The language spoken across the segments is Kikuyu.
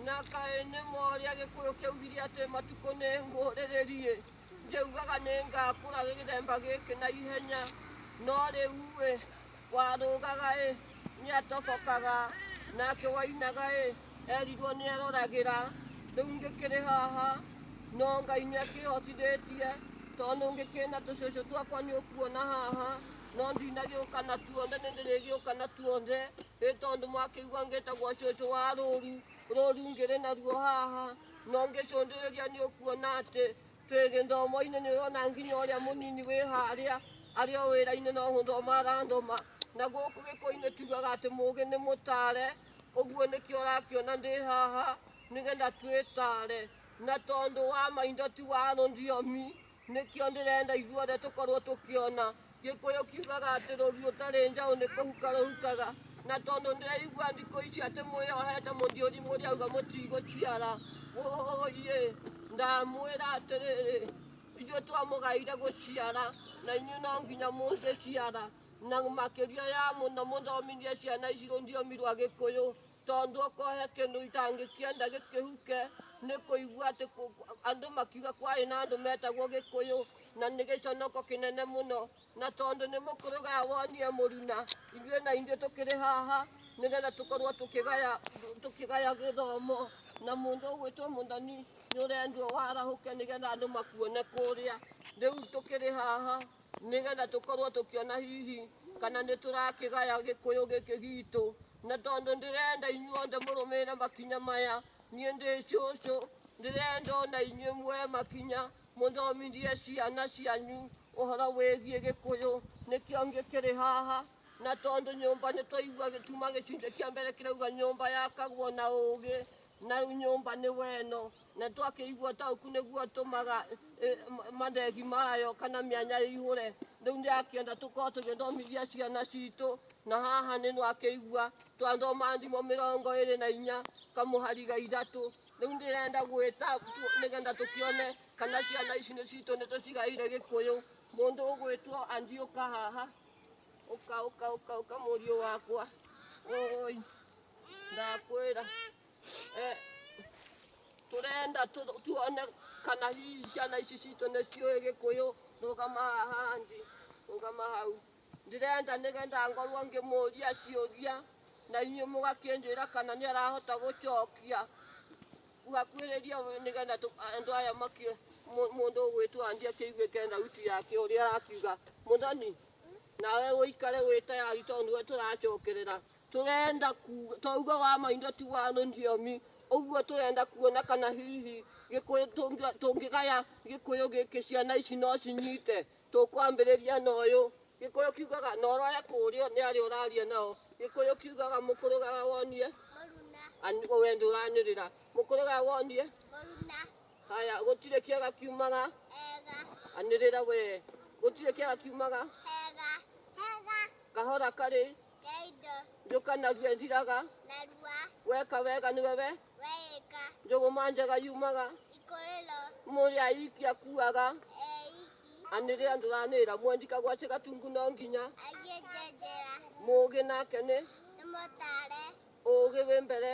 nakaene mwaria gikuyu kiu giri ati matuko ni nguriririe njiugaga ni ngakura githemba giki na ihenya no riu wi warũgaga ĩ nĩatobokaga nake wainaga ĩ erirwo nĩaroragĩra rĩu ngĩkĩrĩ haha no ngai nĩakĩhotithĩtie tondũ ngĩkĩrĩ na tũcũcũ twakwa nĩũkuona haha no ndinagĩũka na tuothe nĩndĩrĩgĩũka na tuothe ĩ tondũ mwakĩigua ngĩtagwo cũcũ wa rũru rũru ngĩrĩ naruo haha no ngĩcũndĩrĩria nĩũkuona atĩ Twĩ gĩthomo-inĩ nĩ ũrona nginya ũrĩa mũnini wĩ harĩa arĩ o wĩra-inĩ no gũthoma arathoma na gũkũ gĩkũyũ-inĩ tugaga atĩ mũgĩ nĩ mũtare ũguo nĩkĩo ũrakĩona ndĩ haha nĩgetha twĩtare na tondũ wa maitho ti wa rũthiomi nĩkĩo ndĩrenda ithuothe tũkorwo tũkĩona Gĩkũyũ kiugaga atĩ rũruo tarĩ njaũ nĩ kũhuka rũhukaga, na tondũ ndĩraigua ndikũ ici atĩ mwĩyohete mũthiũri mũrĩauga mũtigũciara, wũiĩ ndamwĩra atĩrĩrĩ, ithuĩ twamũgaire gũciara na inyuĩ no nginya mũngĩciara, na makĩria ya mũno mũthomithie ciana ici rũthiomi rwa Gĩkũyũ. tondũ okohe kĩndũ itangĩkia ndagĩkĩhuke nĩ kũigua atĩ kũ- kũ- andũ makiuga kwarĩ na andũ metagwo gĩkũyũ na nĩ gĩconoko kĩnene mũno na tondũ nĩ mũkũrũgaya wonie mũruna ithuĩ na ithuĩ tũkĩrĩ haha nĩgetha tũkorwo tũkĩgaya tũkĩgaya gĩthomo na mũndũ ũgwĩtwo mũthoni nĩ ũrendwo warahũke nĩgetha andũ makuone kũrĩa rĩu tũkĩrĩ haha nĩgetha tũkorwo tũkĩona hihi kana nĩ tũrakĩgaya gĩkũyũ gĩkĩ gitũ na tondũ ndĩrenda inyuothe mũrũmĩrĩre makinya maya niĩ ndĩ cũcũ ndĩrenda ona inyuĩ muoe makinya mũthomithie ciana cianyu ũhoro wĩgiĩ gĩkũyũ nĩkĩo ngĩkĩrĩ haha na tondũ nyũmba nĩ twaigua gĩtuma gĩcunjĩ kĩa mbere kĩrauga nyũmba yakagwo na ũgĩ na nyũmba nĩ weno na twakĩigua tauku nĩguo tũmaga eh, ma- mathegi mayo kana mĩanya ihũre rĩu nĩ akĩenda tũkorwo tũgĩthomithia ciana citũ na haha nĩ nwakĩigua twathoma thimo mĩrongo ĩrĩ na inya kamũhariga ithatũ rĩu ndĩrenda gwĩta tu- nĩgetha tũkĩone kana ciana ici nĩ citũ nĩ tũcigaire gĩkũyũ mũndũ ũgwĩtwo andiũka haha Ũka, ũka, ũka, ũka mũriũ wakwa. Oi, ndakwĩra. Eh, tũrenda tũ- tuone kana hihi ciana ici citũ nĩ ciũĩ gĩkũyũ rũgama haha ndĩ rũgama hau ndĩrenda nĩgetha ngorwo ngĩmũria ciũria na inyuĩ mũgakĩnjĩra kana nĩ arahota gũcokia kuhakuhĩrĩria we nĩgetha tũ- andũ aya makĩ mũ- mũndũ ũgwĩtwo anjia kĩiguĩke thauti yake ũrĩa arakiuga mũthoni nawe ũikare wĩ tayari tondũ nĩwe tũracokerera tũrenda kuga twauga wa maindo ti wa rũthiomi ũguo tũrenda kuona kana hihi gĩkũyũ tũngĩ- tũngĩgaya gĩkũyũ gĩkĩ ciana ici no cinyite tũkwambĩrĩria na ũyũ gĩkũyũ kiugaga na ũrore kũrĩa nĩ arĩa ũraria nao gĩkũyũ kiugaga mũkũrũgaga wonie Ani- we ndũranĩrĩra mũkũrũgaga wonie Haya, gũtirĩ kĩaga kiumaga. Hega. Anĩrĩra we. Gũtirĩ kĩaga kiumaga. Hega. Hega. Kahora karĩ. Kaindo. Njoka narua ĩthiraga. Narua. Weka wega nĩ wewe. Weka. Njũgũma njega yumaga. Ikorero. Mũrĩ aiki akuaga. Anĩrĩra ndũranĩra mwendi kagwacĩ gatungu no nginya. Agĩnjenjera. Mũgĩ nake nĩ. Nĩ mũtare. Ũgĩ wĩ mbere.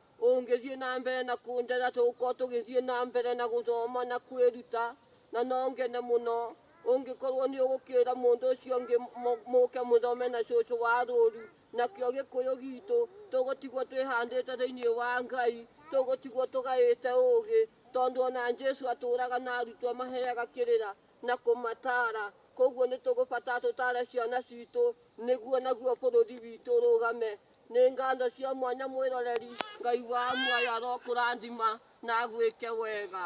Ũngĩthiĩ na mbere na kũndetha tũgũkorwo tũgĩthiĩ na mbere na gũthoma na kwĩruta na no ngene mũno ũngĩkorwo nĩ ũgũkĩra mũndũ ũcio ũngĩ mũ- mũke mũthome na cũcũ wa rũru nakĩo gĩkũyũ gitũ tũgũtigwo twĩhandĩte thĩinĩ wa ngai tũgũtigwo tũgaĩte ũũgĩ tondũ ona jesu atũraga na arutwo amaheaga kĩrĩra na kũmatara koguo nĩ tũgũbatara tũtare ciana citũ nĩguo naguo bũrũri witũ ũrũgame Nĩ nganja cia mwanya mwĩroreri, Ngai wa muoyo arokũrathima na agwĩke wega.